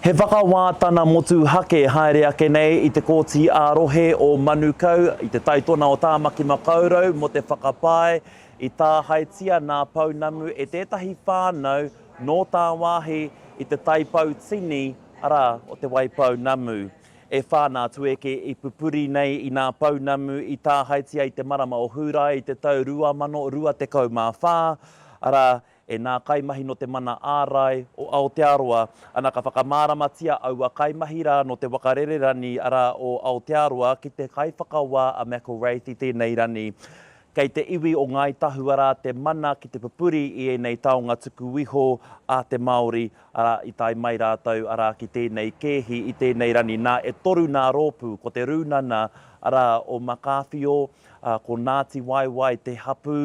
He whakawā tana motuhake haere ake nei i te Kōti ā-Rohe o Manukau i te taitona o Tāmaki Makaurau mō te whakapae i tāhaetia nā Pounamu e tētahi whānau nō tāwāhi i te taipau tini, arā, o Te Waipounamu. E whā nā Tueke i pupuri nei i nā Pounamu i tāhaetia i te marama o Hūrae i te tau 2024, arā, E nā kaimahi nō te mana ārai o Aotearoa, ana ka whakamāramatia aua kaimahi rā nō te wakarere rani arā o Aotearoa ki te kaiwhakawā a McIlwraith i tēnei rani. Kei te iwi o Ngāi Tahu arā te mana ki te pupuri i ēnei taonga tuku iho a te Māori arā i tae mai rātou arā ki tēnei kēhi i tēnei rani. Nā e toru nā rōpū, ko te Rūnana arā o Makawhio, ko Ngāti Waewae te hapū,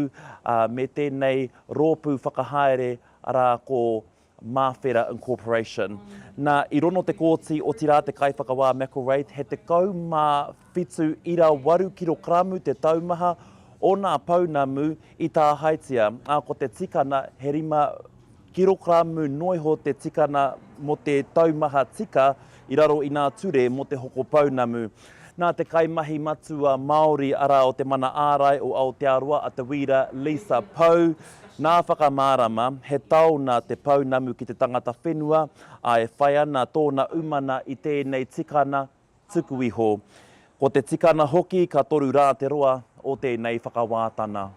me tēnei. rōpū whakahaere, arā, ko Māwhera Incorporation. Nā, i rono te kōti, otirā te kaiwhakawā McIlwraith, he 17 ira waru kirokaramu te taumaha o nā pounamu i tāhaetia, ā, ko te tikana he rima kirokaramu noa iho te tikana mō te taumaha tika i raro i nā ture mō te hoko pounamu. Nā te kaimahi matua Māori arā o Te Mana Ārai o Aotearoa a Te Wīra Lisa Pou, nā Whakamārama, he tao nā te pounamu ki te tangata whenua, ā, e whai ana tōna umana i tēnei tikana tuku iho. Ko te tikana hoki ka toru rā te roa o tēnei whakawātana.